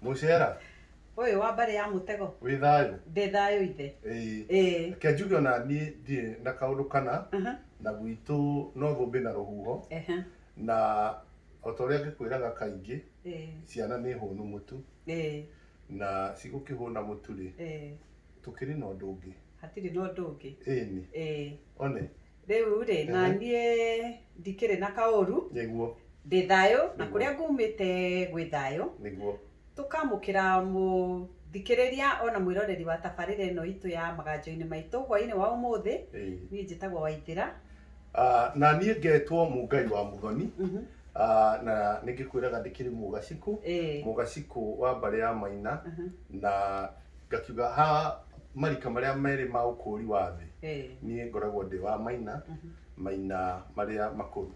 Mũcera. Ũyũ wa mbarĩ ya mũtego. Wĩ thayũ. Ndĩ thayũ ithe. Ĩĩ. Reke njuge ona niĩ ndirĩ na kaũndũ kana na gwitũ no thũmbĩ na rũhuho na o ta ũrĩa ngĩkwĩraga kaingĩ ciana nĩ hũnu mũtu na cigũkĩhũna mũtu rĩ, tũkĩrĩ na ũndũ ũngĩ. Hatirĩ na ũndũ ũngĩ. Ĩni. One. rĩu rĩ na Ehe. niĩ ndikĩrĩ na kaũru nĩguo ndĩ thayũ na Nĩguo. kũrĩa ngumĩte gwĩ thayũ nĩguo tũkamũkĩra mũthikĩrĩria ona mwĩroreri wa tabarĩra ĩno itũ ya maganjo-inĩ maitũ hwainĩ wa ũmũthĩ Ĩĩ. niĩ njĩtagwo waithĩra Ah, na niĩ ngetwo mũngai wa mũthoni Mhm. Ah, na nĩ ngĩkwĩraga ndĩkĩrĩ mũgacikũ Ĩĩ. mũgacikũ wa mbarĩ ya maina Mhm. na Ngakiuga ha marika marĩa merĩ ma ũkũũri wa thĩ, niĩ ngoragwo ndĩ wa maina, maina marĩa makũrũ.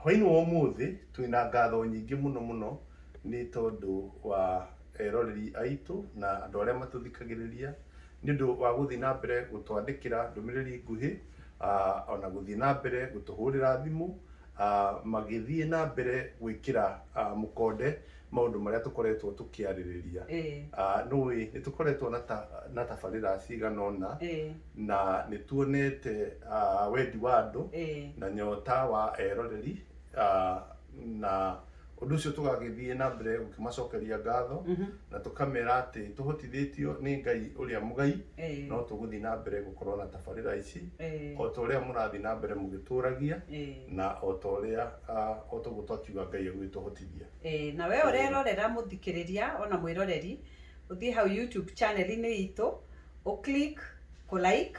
Hwainĩ wa ũmũthĩ twĩna ngatho nyingĩ mũno mũno nĩ tondũ wa eroreri aitũ na andũ arĩa matũthikagĩrĩria nĩ ũndũ wa gũthiĩ na mbere gũtwandĩkĩra ndũmĩrĩri nguhĩ, ona gũthiĩ na mbere gũtũhũrĩra thimũ. magĩthiĩ na mbere gwĩkĩra mũkonde maũndũ marĩa tũkoretwo tũkĩarĩrĩria. Nĩũĩ nĩ tũkoretwo na tabarĩra cigana ũna na nĩ tuonete wendi wa andũ na nyota wa eroreri na Ũndũ ũcio tũgagĩthiĩ na mbere gũkĩmacokeria ngatho na tũkamera atĩ tũhotithĩtio nĩ Ngai ũrĩa mũgai Eh. no tũgũthiĩ na mbere gũkorwo na tabarĩra ici Eh. o ta ũrĩa mũrathiĩ na mbere mũgĩtũragia Eh. na o ta ũrĩa ah, o ta ũguo twakiuga Ngai agũgĩtũhotithia. Eh, na we ũrerorera mũthikĩrĩria ona mwĩroreri ũthiĩ hau youtube channel-inĩ itũ ũ click kũ like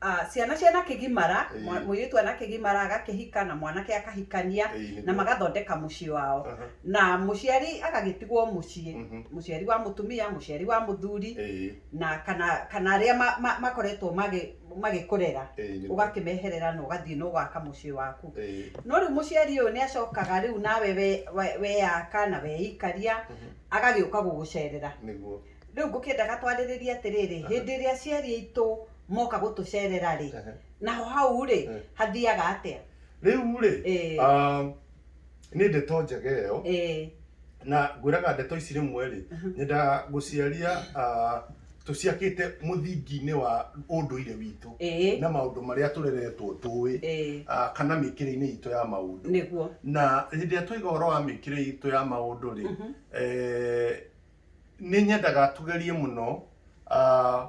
ah, ciana ciana kĩgimara Ĩĩ. mwa- mũirĩtu ana kĩgimara agakĩhika na mwanake akahikania Ĩĩ, nĩguo. na magathondeka mũciĩ wao Aha. na mũciari agagĩtigwo mũciĩ Mhm. mũciari wa mũtumia mũciari wa mũthuri Ĩĩ, na kana kana arĩa ma- ma- makoretwo magĩ- magĩkũrera ĩĩ, nĩguo. ũgakĩmeherera na ũgathiĩ na ũgaka mũciĩ waku Ĩĩ, no rĩu mũciari ũyũ nĩ acokaga rĩu nawe we- we- weyaka na weikaria Mhm. agagĩũka gũgũcerera nĩguo. Rĩu ngũkĩendaga twarĩrĩrie atĩrĩrĩ, hĩndĩ ĩrĩa aciari aitũ moka gũtũcerera-rĩ, naho hau-rĩ, hathiaga atĩa? Rĩu-rĩ, nĩ ndeto njega ĩyo, na ngwĩraga ndeto ici rĩmwe-rĩ, nyendaga gũciaria tũciakĩte mũthingi-inĩ wa ũndũire witũ na maũndũ marĩa tũreretwo tũĩ kana mĩkĩre-inĩ itũ ya maũndũ. Na hĩndĩ ĩrĩa twaiga ũhoro wa mĩkĩre itũ ya maũndũ-rĩ, nĩ nyendaga tugerie mũno ah,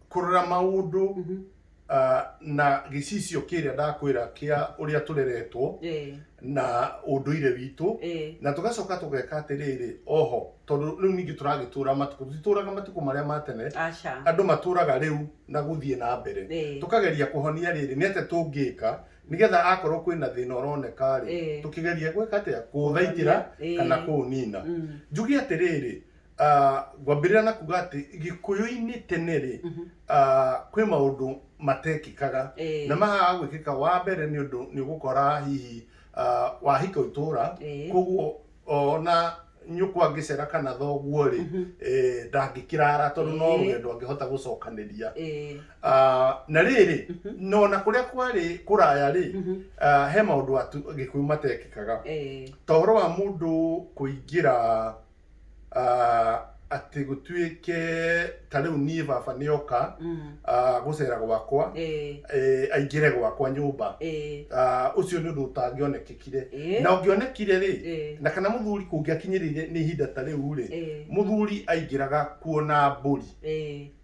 kũrora maũndũ Mhm. ah, na gĩcicio kĩrĩa ndakwĩra kĩa ũrĩa tũreretwo Eh, na ũndũire witũ eh, na tũgacoka tũgeka atĩrĩrĩ oho tondũ rĩu ningĩ tũragĩtũra matukũ tũtitũraga matukũ marĩa ma tene aca. andũ matũraga rĩu na gũthiĩ na mbere Eh, tũkageria kũhonia rĩrĩ nĩ atĩa tũngĩka nigetha akorwo kwĩna thĩna ũroneka rĩ Eh. tũkĩgeria gwĩka atĩa kũũthaitĩra Eh. kana kũũnina Mm. njuge atĩrĩrĩ ah, ngwambĩrĩra na kuga atĩ gĩkũyũ-inĩ tene rĩ Mhm. ah, kwĩ maũndũ matekĩkaga Eh. na mahaga gwĩkĩka wa mbere nĩ ũndũ nĩ ũgũkora hihi ah, wahika itũra Eh. koguo ona nyũkwa angĩcera kana thoguo rĩ Mhm. eh, ndangĩkĩrara tondũ no Ĩĩ. rũgendo angĩhota gũcokanĩria Ĩĩ. Ah, na rĩrĩ Mhm. no na kũrĩa kwarĩ kũraya rĩ Mhm. ah, he maũndũ atu gĩkũyũ matekĩkaga Ĩĩ. ta ũhoro wa mũndũ kũingĩra ah, atĩ gũtuĩke ta rĩu niĩ baba nĩ oka Mm. ah, gũcera gwakwa Eh. eh, aingĩre gwakwa nyũmba Eh. Ah, ũcio nĩ ũndũ ũtangĩonekekire Eh. na ũngĩonekire rĩ Eh. na kana mũthuri kũngĩakinyĩrĩire nĩ ihinda ta rĩu rĩ Eh. mũthuri aingĩraga kuona mbũri Eh.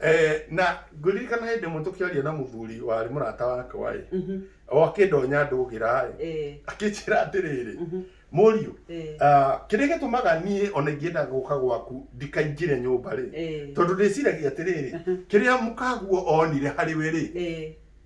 Eh, na ngũririkana hĩndĩ ĩmwe tũkĩaria na mũthuri warĩ mũrata wakwa ĩ Mhm. o akĩndonya ndũgĩra ĩ Eh, akĩnjĩra atĩrĩrĩ mhm. mũriũ Eh, ah, kĩrĩa gĩtũmaga niĩ ona ingĩenda gũka gwaku ndikaingĩre nyũmba rĩ eh, tondũ ndĩciragia atĩrĩrĩ kĩrĩa mũkaguo onire harĩ we rĩ eh,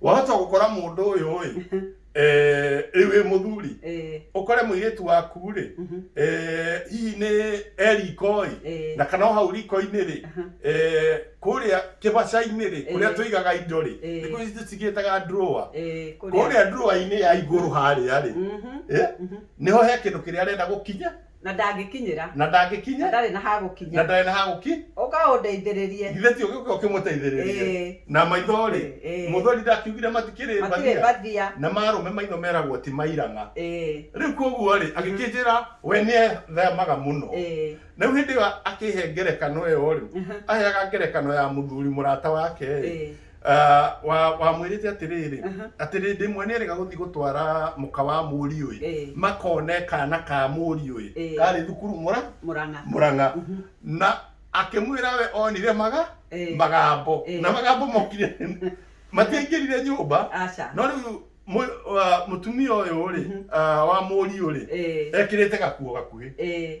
wahota gukora mundu uyu ri eh ri wi muthuri eh ukore muiritu waku ri mhm, eh hihi ni erikoi eh na kana o hau riko-inĩ rĩ aha, eh, kũrĩa kĩbaca-inĩ rĩ kũrĩa Eh. tũigaga indo rĩ Eh. thikũ ici tũcigĩtaga drawer eh kũrĩa drawer-inĩ ya igũrũ harĩa rĩ mhm, eh, mhm. nĩho he kĩndũ kĩrĩa arenda gũkinya Na ndangĩkinyĩra. Na ndangĩkinyĩ. Na ndarĩ na ha gũkinya. Na ndarĩ na ha gũki. Ũka ũndeithĩrĩrie. Githĩ ti ũgĩũke ũkĩmũteithĩrĩrie? Ĩĩ. Na maitho-rĩ? Ĩĩ. Mũthweri ndakiugire matikĩrĩ mbathia? Matirĩ mbathia. Na marũme maitho meragwo ti mairang'a. Ĩĩ. Rĩu kwoguo-rĩ, agĩkĩnjĩra we nĩethemaga mũno. Ĩĩ. Na rĩu hĩndĩ ĩyo akĩhe ngerekano ĩyo-rĩ, aheaga ngerekano ya mũthuri mũrata wake-ĩ. Ĩĩ. Ah, wa wamwĩrĩte atĩrĩrĩ Aha. atĩ rĩndĩ ĩmwe nĩ erĩga gũthiĩ gũtwara mũka wa mũriũĩ Eh. makone kana ka mũriũĩ Eh. karĩ thukuru mũra mũrang'a mũrang'a Mhm. na akĩmwĩra we onire maga Eh. magambo Eh. na magambo mokire matiaingĩrire nyũmba aca no rĩu mũ- wa- mũtumia ũyũ rĩ Mhm. ah, wa mũriũ rĩ Eh. ekĩrĩte gakuo gakuhĩ Eh.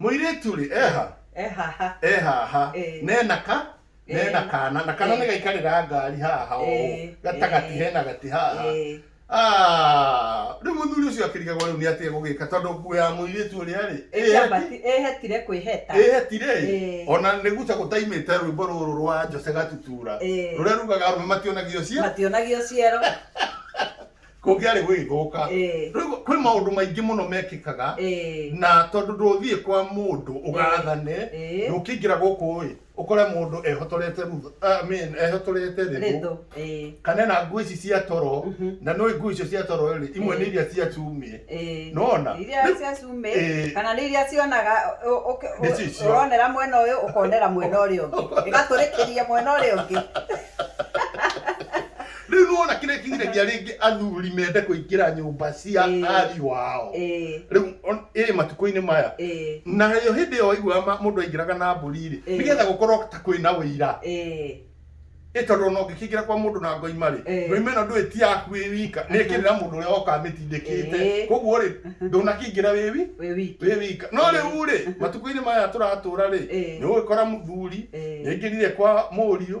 Mũirĩtu rĩ, eha, ehaha ehaha, Eh. nena ka, Eh. nena kana, na kana Eh. nĩ gaikarĩra ngari haha ũũ, Eh. gatagati Eh. hena gati haha. Eh, Ah, rĩu mũthuri ũcio akĩrigagwo rĩu nĩ atĩ egũgĩka tondũ nguo ya mũirĩtu ũrĩa rĩ, ĩheti- ĩhetire kwĩheta ĩhetire ĩ, Eh. ona nĩ guca gũtaimĩte rwĩmbo rũrũ rwa Jose Gatutura Eh. rũrĩa rugaga arũme mationagio cia mationagio ciero kũngĩarĩ gũgĩthũka Eh. rĩu kwĩ maũndũ maingĩ mũno mekĩkaga Eh. na tondũ ndũthiĩ kwa mũndũ ũgathane Eh. ndũkĩingĩra gũkũ ĩ ũkore mũndũ ehotorete rutho I mean, ehotorete rĩthũ Ritho. Eh. kana na nguo ici cia toro na nĩ nguo icio cia toro rĩ imwe nĩ iria cia cumĩ Eh. Nona? iria Rĩu- cia cumĩ Eh. kana nĩ iria cionaga ũ- ũke- ũ- Nĩcio icio. ũronera mwena ũyũ ũkonera mwena ũrĩa ũngĩ ĩgatũrĩkĩria mwena ũrĩa ũngĩ rĩu nĩwona kĩrĩa kĩgiragia rĩngĩ athuri mende kũingĩra nyũmba cia Ĩĩ. ariũ ao Ĩĩ, rĩu on- ĩ matukũ-inĩ maya ĩĩ, nayo hĩndĩ ĩyo waiguaga ma- mũndũ aingĩraga na mbũri-rĩ Ĩĩ. nĩgetha gũkorwo ta kwĩna ũira ĩĩ, ĩ tondũ ona ũngĩkĩingĩra kwa mũndũ na ngoima-rĩ Ĩĩ. ngoima ĩno ndũĩ ti yaku wĩ wika nĩ ĩkĩrĩra mũndũ ũrĩa woka amĩtindĩkĩte Ĩĩ. koguo-rĩ ndũnakĩingĩra wĩ wi wĩ wiki. wĩ wika no Ĩĩ. rĩu-rĩ matukũ-inĩ maya tũratũra-rĩ Ĩĩ. nĩ ũgũgĩkora mũthuri Ĩĩ. nĩaingĩrire kwa mũriũ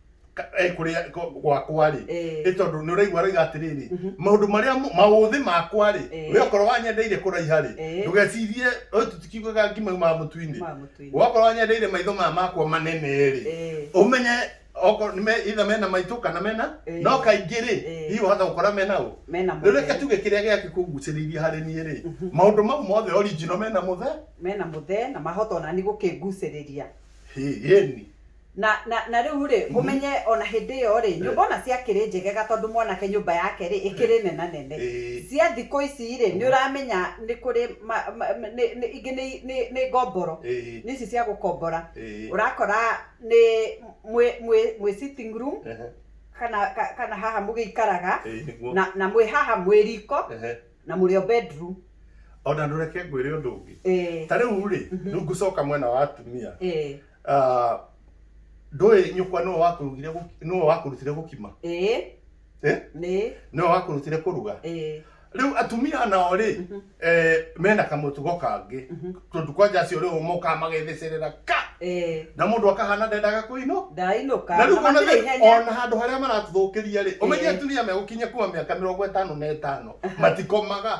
ka- eh, kũrĩa gwa- gwakwa-rĩ Eh. ĩ tondũ nĩ ũraigua aroiga atĩrĩrĩ maũndũ marĩa mo- maũthĩ makwa-rĩ Eh. we okorwo wanyendeire kũraiha-rĩ Eh. ndũgecirie ũyũ tũtikiugaga ngima yumaga mũtu-inĩ Yumaga mũtu-inĩ. wakorwo wanyendeire maitho maya makwa manene-rĩ Eh. ũmenye okorwo nĩ me- either mena maitũ kana mena Eh. no kaingĩ-rĩ Eh. hihi wahota gũkora mena ũ Mena rĩu reke mũtheri. tuge kĩrĩa gĩake kũgucĩrĩirie harĩ niĩ-rĩ maũndũ mau mothe original mena mũthe mena mũthee na mahota ona nĩ gũkĩngucĩrĩria hĩni Na, na, na rĩu rĩ, Mhm. mũmenye o na hĩndĩ ĩyo rĩ, nyũmba o na ciakĩrĩ njegega tondũ mwanake nyũmba yake rĩ, ĩkĩrĩ nenanene. Ĩĩ. Cia thikũ ici rĩ, nĩ ũramenya nĩ kũrĩ ma, ma, nĩ, nĩ, ingĩ nĩ, nĩ, nĩ ngomboro. Ĩĩ. Nĩ ici cia gũkombora. Ĩĩ. Ũrakora nĩ mwĩ, mwĩ, mwĩ sitting room, Ehe. kana, ka- kana haha mũgĩikaraga, Ĩĩ, nĩguo. na, na mwĩ haha mwĩ riko, Ehe. na mũrĩ o bedroom. O na ndũreke ngwĩre ũndũ ũngĩ. Ĩĩ. Ta rĩu rĩ, rĩu ngũcoka mwena wa atumia. Ĩĩ. Ah, ndũĩ nyũkwa nĩwe wakũrugire gũki- nĩwe wakũrutire gũkima ĩĩ Eh? nĩ nĩwe wakũrutire kũruga ĩĩ rĩu atumia nao rĩ Mhm. eh, mena kamũtugo kangĩ Mhm. tondũ kwanja acio rĩu mokaga magetheceerera ka ĩĩ na mũndũ akahana ndendaga kũinũka ndainũka na rĩu ona matirĩ rĩ- ihenya ona handå harä a maratåthåkä ria rä å menye Eh. atumia megåkinyia kuma mä aka mä rongo ätano na ätano matikomaga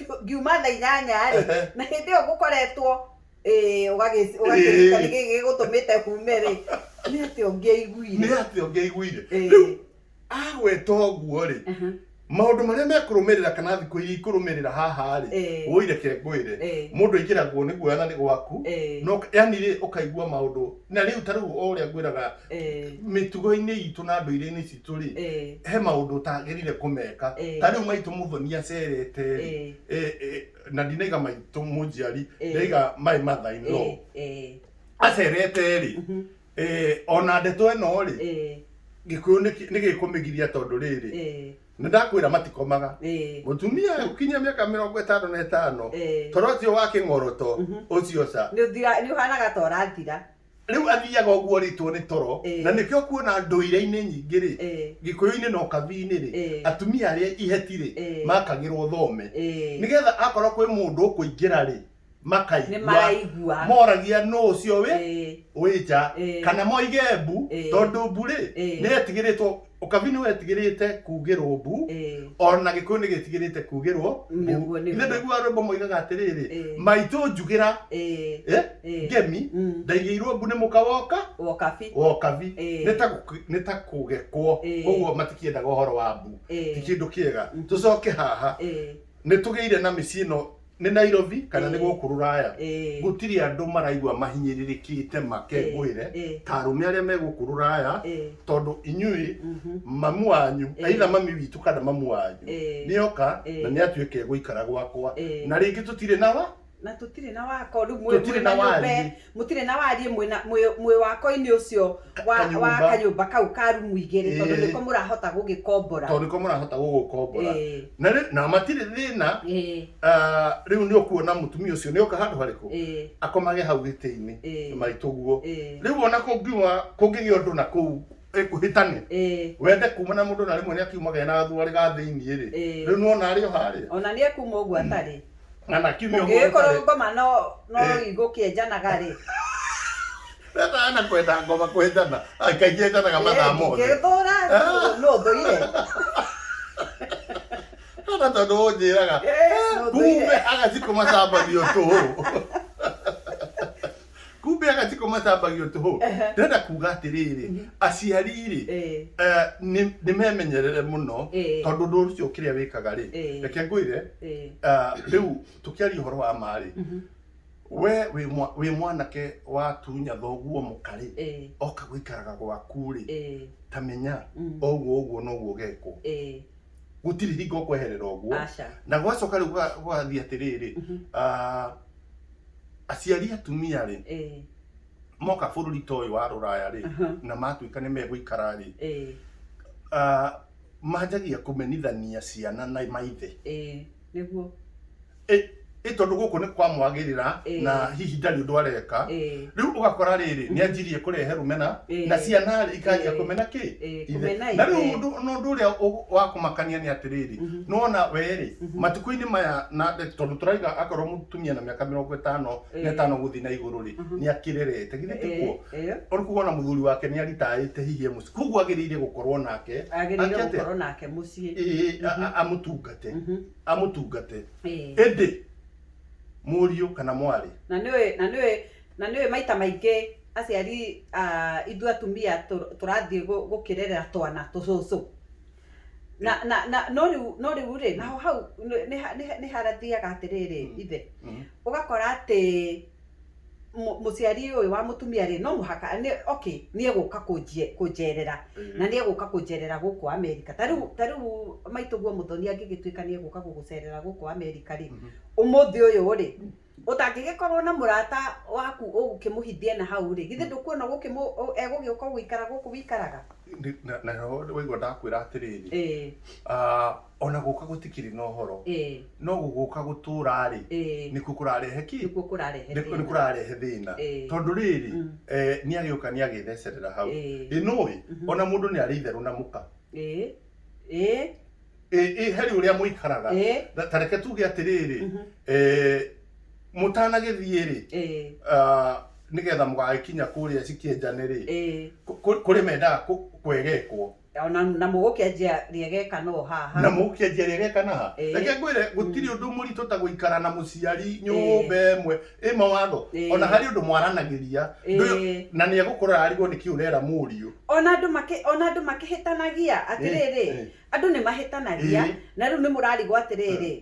ngiuma thaa inyanya-rĩ Ehe. na hĩndĩ ĩyo ngũkoretwo ĩĩ, ũgagĩ- ũgakĩruta Ĩĩ. nĩkĩ gĩgũtũmĩte hume-rĩ nĩ atĩa nĩ ũngĩaiguire atĩ ũngĩaiguire Ĩĩ. rĩu agweta ũguo-rĩ Aha. maũndũ marĩa mekũrũmĩrĩra kana thikũ iria ikũrũmĩrĩra haha-rĩ Ĩĩ. woi reke ngwĩre Ĩĩ. mũndũ aingĩragwo nĩ guoya na nĩ gwaku Ĩĩ. no yani rĩ ũkaigua maũndũ na rĩu ta rĩu o ũrĩa ngwĩraga Ĩĩ. mĩtugo-inĩ itũ na ndũire-inĩ citũ Tũrĩ, Ĩĩ. he maũndũ ũtagĩrĩire kũmeka. Ĩĩ. Ta rĩu maitũ Muthoni acerete rĩ, Ĩĩ. ĩ- ĩ- na ndinaiga maitũ mũnjiari, Ĩĩ. ndaiga my mother in law. Ĩĩ, ĩĩ, Acerete rĩ, mhm, ĩ, ona ndeto ĩno rĩ, ĩĩ, gĩkũyũ nĩ kĩ- nĩ gĩkũmĩgiria tondũ rĩrĩ, ĩĩ, nĩ ndakwĩra matikomaga. ĩĩ, Mũtumia ũkinyia mĩaka mĩrongo ĩtano na ĩtano, Ĩĩ. toro ũcio wa kĩng'oroto Mhm. ũcio ca. Nĩ ũthira- nĩ ũhanaga ta ũrathira rĩu athiaga ũguo orĩtwo nĩ toro Ĩĩ. na nĩkĩo kuona ndũire-inĩ nyingĩ rĩ Ĩĩ. gĩkũyũ-inĩ na ũkabi-inĩ rĩ Ĩĩ. atumia arĩa iheti rĩ Ĩĩ. makagĩrwo thome Ĩĩ. nĩgetha akorwo kwĩ mũndũ ũkũingĩra rĩ nĩ makaigua maraigua moragia nũ ũcio wĩ Ĩĩ. wĩ nja Ĩĩ. kana moige mbu Ĩĩ. tondũ mbu rĩ Ĩĩ. nĩ etigĩrĩtwo Ũkabi nĩ wetigĩrĩte kuugĩrwo mbu, Eh. o na gĩkũyũ nĩ gĩtigĩrĩte kuugĩrwo mbu. Nĩguo, nĩguo. Ithe ndaiguaga rwĩmbo moigaga atĩrĩrĩ, Eh. maitũ njugĩra Eh. eh, Eh. ngemi, Mm. ndaigĩirwo mbu nĩ mũka woka Wokabi. wokabi Eh. nĩ ta gũk- nĩ ta kũgekwo Eh. koguo matikĩendaga ũhoro wa mbu Eh. ti kĩndũ kĩega tũcoke haha Eh. nĩ tũgĩire na mĩciĩ ĩno nĩ Nairobi kana nĩ gũkũ rũraya gũtirĩ andũ maraigua mahinyĩrĩrĩkĩte makengũĩre ta arũme arĩa me gũkũ rũraya tondũ inyuĩ mhm. mamu wanyu aitha mami witũ kana mamu wanyu nĩ oka na nĩ atuĩke gũikara gwakwa na rĩngĩ tũtirĩ na wa na tũtirĩ na wako rĩu mũrĩ na nyũmba mũtirĩ na wariĩ mwĩna- mwĩ- mwĩwakoinĩ ũcio wa Kanyũmba. wa kanyũmba kau ka rumu igĩrĩ tondũ Ĩĩ. nĩko mũrahota gũgĩkombora tondũ nĩko mũrahota gũgũkombora Ĩĩ. na rĩu na matirĩ thĩna Ĩĩ, ah, rĩu nĩ ũkuona mũtumia ũcio nĩ oka handũ harĩkũ ĩĩ, akomage hau gĩtĩ-inĩ Ĩĩ. maitũguo Ĩĩ. rĩu ona kũngiuma kũngĩgĩa ũndũ na kũu eh, kũhĩtane ĩĩ. wende kuma na mũndũ na rĩmwe nĩ akiumaga ena thuarĩ ga thĩinĩ rĩ Ĩĩ. rĩu nĩwona arĩ o harĩa ona nĩ ekuma ũguo atarĩ na na kiumia ũmwe ũngĩgĩkorwo ũtarĩ- ngoma no no Eh. igũkĩenjanaga rĩ Rĩrĩa ana kwenda ngoma kwenjana akaingĩ enjanaga mathaa mothe ngĩthũra Ah. no thũire kana tondũ ũnjĩraga Eh, no thũire. kumbe agacikũma cambani ũtũ kumbe agaciko matambagio tũhũ Ehe. ndĩrenda kuga atĩrĩrĩ aciari rĩ Eh. eh, nĩ nĩ memenyerere mũno Eh. tondũ ũndũ ũcio kĩrĩa wĩkaga rĩ Eh. reke ngwĩre Eh. ah, rĩu tũkĩaria ũhoro wa ma rĩ Mhm. we wĩ mwa- wĩ mwanake watunya thoguo mũka rĩ Eh. oka gũikaraga gwaku rĩ Eh. ta menya Mm. oguo ũguo noguo ũgekwo Eh. gũtirĩ hingo kweherera ũguo Aca. na gwacoka rĩu gwa- gwathiĩ atĩrĩrĩ Mhm. ah, aciari atumia rĩ eh, moka bũrũri ta ũyũ wa rũraya rĩ Aha. na matuĩka nĩ megũikara rĩ eh, ah, manjagia kũmenithania ciana na maithe eh, nĩguo Ĩ- ĩ tondũ gũkũ nĩ kwamwagĩrĩra Eh. na hihi ndarĩ ũndũ areka eh. rĩu ũgakora rĩrĩ nĩ anjirie kũrehe rũmena Eh. na ciana rĩ ikanjia Eh. kũmena kĩ Eh, Ithe. kũmena na rĩu ithe. ũndũ na ũndũ ũrĩa ũ- wa kũmakania nĩ atĩrĩrĩ Mhm. nona werĩ Mhm. matukũ-inĩ maya na tondũ tũraiga akorwo mũtumia na mĩaka mĩrongo ĩtano na Eh. ĩtano gũthiĩ na igũrũ rĩ Mhm. nĩ akĩrerete githĩ tikuo Eh, eh, ũrĩ kuga ona mũthuri wake nĩ aritaĩte hihi e mũciĩ koguo agĩrĩire gũkorwo nake agĩrĩire Ake atĩa? gũkorwo nake mũciĩ ĩĩ, a- a- amũtungate Mhm. amũtungate Eh. ĩndĩ mũriũ kana mwarĩ na nä å na nä å na nä å maita maingä aciari ah, ithu atumia tå- tũrathiĩ gũ- gũkĩrerera twana tũcũcũ na na na no rĩu no rĩu rĩ naho hau nĩ- nĩ ha- nĩ ha- nĩ harathiaga atĩrĩrĩ Mm. ithe Mhm. ũgakora atĩ mũciari ũyũ wa mũtumia rĩ no mũhaka okay nĩ egũka kũnjerera mm. na nĩ egũka kũnjerera gũkũ Amerika ta rĩu ta rĩu maitũguo mũthoni angĩgĩtuĩka nĩ egũka gũgũcerera gũkũ Amerika rĩ mhm. ũmũthĩ ũyũ rĩ ũtangĩgĩkorwo na mũrata waku ũgũkĩmũhithia na hau rĩ githĩ mm. ndũkuona egũgĩũka gũikara gũkũ wĩikaraga na waigua ndakwĩra atĩrĩrĩ ona gũka gũtikĩrĩ na ũhoro eh, no gũgũka gũtũra-rĩ eh, nĩkuo kũrarehe ki nĩkuo kũrarehe nĩ thĩna. kũrarehe thĩna Eh. tondũ rĩrĩ Mm. eh, nĩ agĩũka nĩ agĩthecerera hau Eh. ĩ nũĩ Mhm. ona mũndũ nĩ arĩ itherũ na mũka Eh, eh, ĩ ĩ heri ũrĩa mũikaraga eh, Na- ta reke tuge atĩrĩrĩ mhm, eh, mũtanagĩthiĩ-rĩ eh, ah, nĩgetha mũgagĩkinya kũrĩa cikĩenjane-rĩ eh, kũ- kũ- kũrĩ mendaga kũ- kwegekwo O na na mũgũkĩanjia rĩegeka no haha. Na mũgũkĩanjia rĩegeka na ha. Ĩĩ. Reke ngwĩre gũtirĩ ũndũ mũritũ ta gũikara na mũciari nyũmba ĩmwe ĩ mawatho. Ĩĩ. O na harĩ ũndũ mwaranagĩria. Ndũĩ Ĩĩ. na nĩ egũkũrora arigwo nĩkĩ ũrera mũriũ. O na andũ makĩ o na andũ makĩhĩtanagia. Atĩrĩrĩ, Ĩĩ. Ĩĩ. andũ nĩ mahĩtanagia, Ĩĩ. na rĩu nĩ mũrarigwo atĩrĩrĩ, Ĩĩ.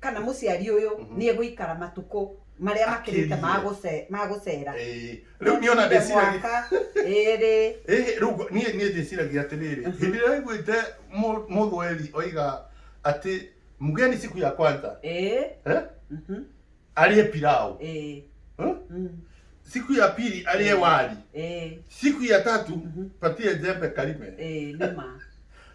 kana mũciari ũyũ Mhm. nĩ egũikara matukũ marĩa makĩrĩte ma Akĩrie. gũce- ma gũcera Ĩĩ. rĩu niĩ ona Nĩekire ndeciragia mwaka ĩrĩ Ĩhĩ, rĩu ngo- niĩ niĩ ndĩciragia atĩrĩrĩ Mhm. hĩndĩ ĩrĩa waiguĩte mũ- mũthweri oiga atĩ mgeni siku ya kwanza ĩĩ eh, mhm, arĩe pilau ĩĩ eh, mm, siku ya pili arĩe Ĩĩ. wali ĩĩ siku ya tatu Mhm. patie jembe karime ĩĩ nĩ ma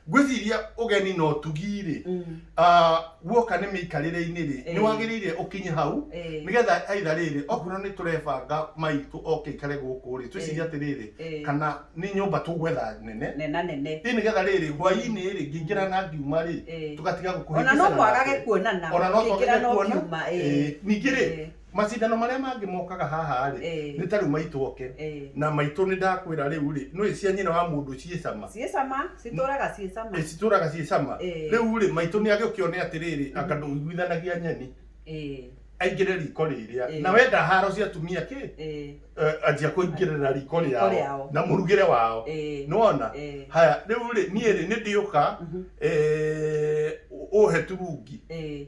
ngwĩciria ũgeni na ũtugi rĩ Mm. ah, guoka nĩ mĩikarĩre-inĩ rĩ Eh. nĩ wagĩrĩire ũkinye hau Eh. nĩgetha aitha rĩrĩ okorwo nĩ tũrebanga maitũ oke ikare gũkũ rĩ twĩcirie Eh. atĩrĩrĩ Eh. kana nĩ nyũmba tũgwetha nene nena nene ĩ nĩgetha rĩrĩ hwainĩ rĩ ngĩingĩra na ngiuma rĩ Eh. tũgatiga ona no gũkũhĩngĩcana mwagage nake. kuonana ona no Ũkĩingĩra twagage no kuona kiuma, eh. Eh, ningĩ rĩ Eh. macindano marĩa mangĩ mokaga haha rĩ Eh. nĩ tarĩu maitũ oke Eh. na maitũ nĩ ndakwĩra rĩu rĩ nĩ cia nyina wa mũndũ ciĩ cama ciĩ cama citũraga ciĩ cama Eh, citũraga ciĩ cama Eh. rĩu rĩ maitũ nĩ agĩkĩone atĩrĩrĩ anga ndũiguithanagia nyeni Eh, aingĩre riko rĩrĩa Eh. na wenda haro cia atumia kĩ eh, eh, anjia kũingĩrĩra riko Riko rĩao rĩao. na mũrugĩre wao eh, nĩwona eh, haya rĩu rĩ niĩ rĩ nĩ ndĩũka mhm, eh, ũhe turungi eh,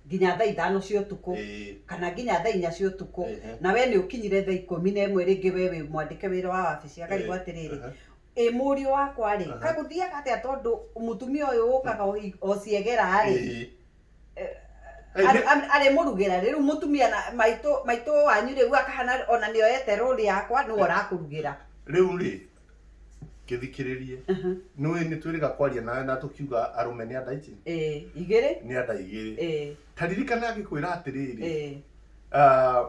nginya thaa ithano cia ũtukũ Ĩĩ. kana nginya thaa inya cia ũtukũ Ehe. na we nĩ ũkinyire thaa ikũmi na ĩmwe rĩngĩ we wĩ mwandĩke wĩra wa wabici akarigwo Ĩĩ. atĩrĩrĩ Aha. ĩ mũriũ wakwa rĩ Aha. kagũthiaga atĩa tondũ mũtumia ũyũ ũkaga o hi- o ciegera rĩ Ĩĩ. Eh, Eh, arĩ- nĩ- arĩ- arĩmũrugĩra rĩ rĩu mũtumia na maitũ maitũ wanyu rĩu akahana ona nĩoyete rũri yakwa nĩwe ũrakũrugĩra rĩu rĩ kĩthikĩrĩrie nĩ ũĩ nĩ twĩrĩga kwaria nawe na tũkiuga arũme nĩ andaiti eh, igĩrĩ nĩ anda igĩrĩ eh, taririkana agĩkwĩra atĩrĩrĩ eh, ah,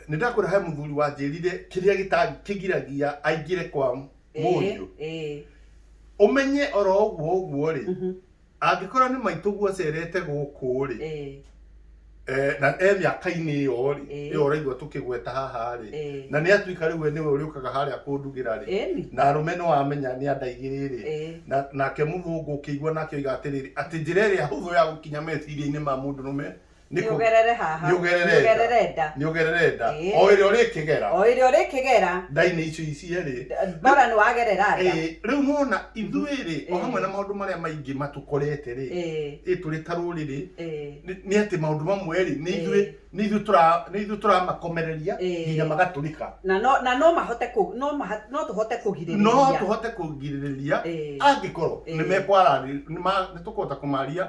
nĩ ndakwĩra he mũthuri wanjĩrire kĩrĩa gĩta- kĩgiragia aingĩre kwa mũriũ eh, eh, ũmenye oro ũguo ũguo rĩ mhm, angĩkorwo nĩ maitũguo ũcerete gũkũ rĩ eh, eh, na e mĩaka-inĩ ĩyo rĩ Eh. ĩyo ũraigua tũkĩgweta haha rĩ eh, na nĩ atuĩka rĩu we nĩwe ũrĩũkaga harĩa kũndugĩra rĩ eh, ni, na arũme nĩ wamenya nĩ andaigĩrĩ rĩ eh, na nake mũthũngũ ũkĩigua nake oiga atĩrĩrĩ atĩ njĩra ĩrĩa hũthũ ya gũkinya meciria-inĩ ma mũndũ rũme Nĩ kũ- nĩũgerere haha nĩũgerere nda. nĩũgerere nda nĩũgerere nda Ĩĩ. o ĩrĩa ũrĩkĩgera o ĩrĩa ũrĩkĩgera ndainĩ icio icierĩ ndora nĩ wagerera nda Ĩĩ, rĩu nĩwona ithuĩ-rĩ o Ĩĩ. hamwe na maũndũ marĩa maingĩ matũkorete-rĩ Ĩĩ, ĩ tũrĩ ta rũrĩrĩ ĩĩ, nĩ nĩ atĩ maũndũ mamwe-rĩ nĩ ithuĩ Ĩĩ. nĩ ithuĩ tũra- nĩ ithuĩ tũramakomereria Ĩĩ. nginya magatũrika na no na no mahote kũ no maha no tũhote no kũgirĩrĩria tũhote kũgirĩrĩria Ĩĩ. angĩkorwo Ĩĩ. nĩ mekwararĩ nĩ tũkũhota kũmaria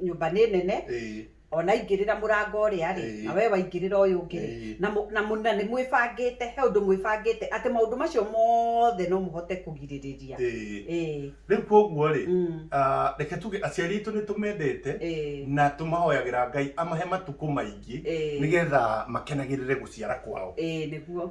nyũmba nĩ nene ĩĩ ona ingĩrĩra mũrango ũrĩa rĩ Ĩĩ. na we waingĩrĩra ũyũ ũngĩ rĩ Ĩĩ. na mũ- na mũ- na nĩ mwĩbangĩte he ũndũ mwĩbangĩte atĩ maũndũ macio mothe no mũhote kũgirĩrĩria ĩĩ ĩĩ rĩu koguo rĩ mm, ah, reke tuge aciari aitũ nĩ tũmendete ĩĩ na tũmahoyagĩra ngai amahe matukũ maingĩ Ĩĩ. nĩgetha makenagĩrĩre gũciara kwao ĩĩ nĩguo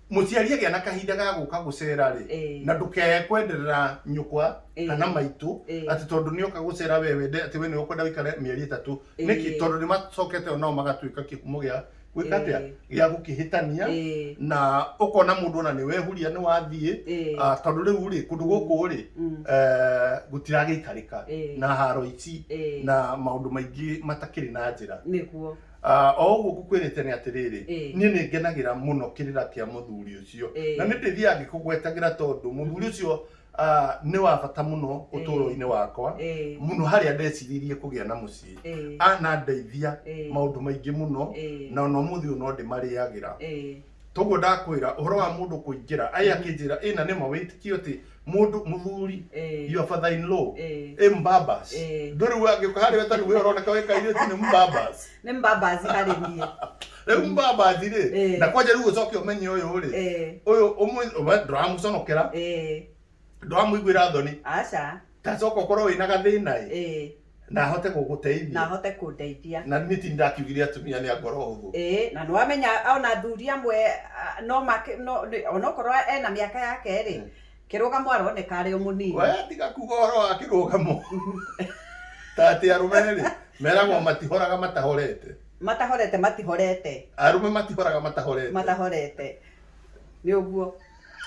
mũciari agĩa na kahinda ga gũka gũcera rĩ Eh. na ndũkeye kwenderera nyũkwa Eh. kana maitũ Eh. atĩ tondũ nĩ oka gũcera we wende atĩ we nĩ ũkwenda wĩikare mĩeri ĩtatũ Eh. nĩkĩ tondũ nĩ macokete o nao magatuĩka kĩhumo gĩa gwĩka atĩa Eh. gĩa gũkĩhĩtania Eh. na ũkona mũndũ ona nĩ wehuria nĩ wathiĩ Eh. Ah, tondũ rĩu rĩ kũndũ gũkũ rĩ Mm. eh, gũtiragĩikarĩka Eh. na haro ici Eh. na maũndũ maingĩ matakĩrĩ na njĩra nĩguo Ah, o ũguo ngũkwĩrĩte nĩ atĩrĩrĩ, Ĩ. niĩ nĩ ngenagĩra mũno kĩrĩra kĩa mũthuri ũcio, Ĩ. na nĩ ndĩthiaga ngĩkũgwetagĩra tondũ mũthuri ũcio ah, nĩ wa bata mũno ũtũũro-inĩ wakwa, Ĩ. mũno harĩa ndeciririe kũgĩa na mũciĩ. Ĩ. Anandeithia Ĩ. maũndũ maingĩ mũno, Ĩ. na o na ũmũthĩ ũyũ no ndĩmarĩagĩra. Ĩ. toguo ndakwĩra ũhoro wa mũndũ kũingĩra aĩ akĩnjĩra ĩ na nĩma wĩtĩkio atĩ mũndũ mũthuri Eh. your father in law Eh. ĩ mbabas Eh. ndũrĩ we angĩũka harĩ we tarĩu we ũroneka wĩ kairĩtu nĩ mbabas nĩ mbambazi harĩ niĩ rĩu mbabas rĩ Eh. na kwanja rĩu ũcoke ũmenye ũyũ rĩ Eh, ũyũ ũmwe ndũramũconokera eh, ndũramũiguĩra thoni aca tacoka ũkorwo wĩna gathĩna ĩ eh. na ahote gå gå na teithia ahote kå ndeithia na nä ti ndakiugire atumia nä a ngoro hå thå Ĩĩ, na nĩwamenya ona athuri amwe ah, no make no nĩ- onokorwo ena mĩaka yake rĩ Mm. kĩrũgamo aroneka arĩ o mũnini we tiga kuga å horo wa kä rå gamo ta atä arå me rĩ meragwo matihoraga matahorete matahorete matihorete arå me matihoraga matahorete matahorete nĩ ũguo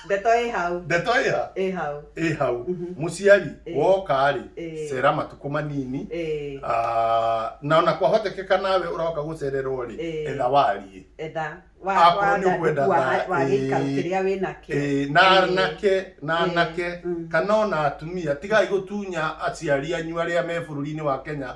ndeto ĩ hau ndeto ĩ ha ĩ hau ĩ hau mũciari Ĩ. woka-rĩ Ĩ. cera matukũ manini Ĩ, Ah, na ona kwahotekeka nawe ũroka gũcererwo-rĩ Ĩ. etha wariĩ etha Akorwo nĩ ũkwenda tha- wa gĩikaro Ĩ. kĩrĩa wĩ nakĩo Ĩ, na Ĩ. anake na Ĩ. anake Mm. kana ona atumia tigai gũtunya aciari anyu arĩa me bũrũri-inĩ wa kenya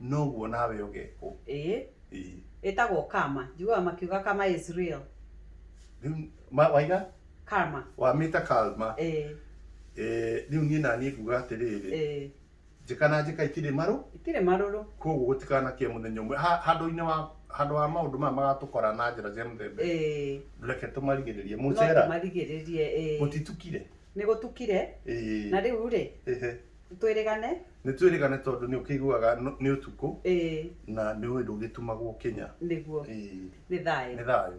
Noguo nawe ũgekwo. Ĩĩ. Ĩĩ. Ĩtagwo karma. Njiguaga makiuga karma is real. Rĩu ma- waiga Karma. wamĩta kalma Ĩĩ. Eh, rĩu niĩ naniĩ nguga atĩrĩrĩ Ĩĩ. njĩka na njĩka itirĩ marũ Itirĩ marũrũ. koguo gũtikanakia mũthenya ũmwe Ha- handũ-inĩ wa handũ wa maũndũ maya magatũkora na njĩra cia mũthemba Ĩĩ. reke tũmarigĩrĩrie No mũcera tũmarigĩrĩrie. Ĩĩ. gũtitukire Nĩ gũtukire. Ĩĩ. Na rĩu rĩ, Ĩhĩ. nĩ twĩrĩgane? Nĩ twĩrĩgane tondũ nĩ ũkĩiguaga nũ- nĩ ũtukũ Ĩĩ, na nĩ ũĩ ndũgĩtumagwo kĩnya. nĩguo. Ĩĩ. Nĩ thayũ. Nĩ thayũ.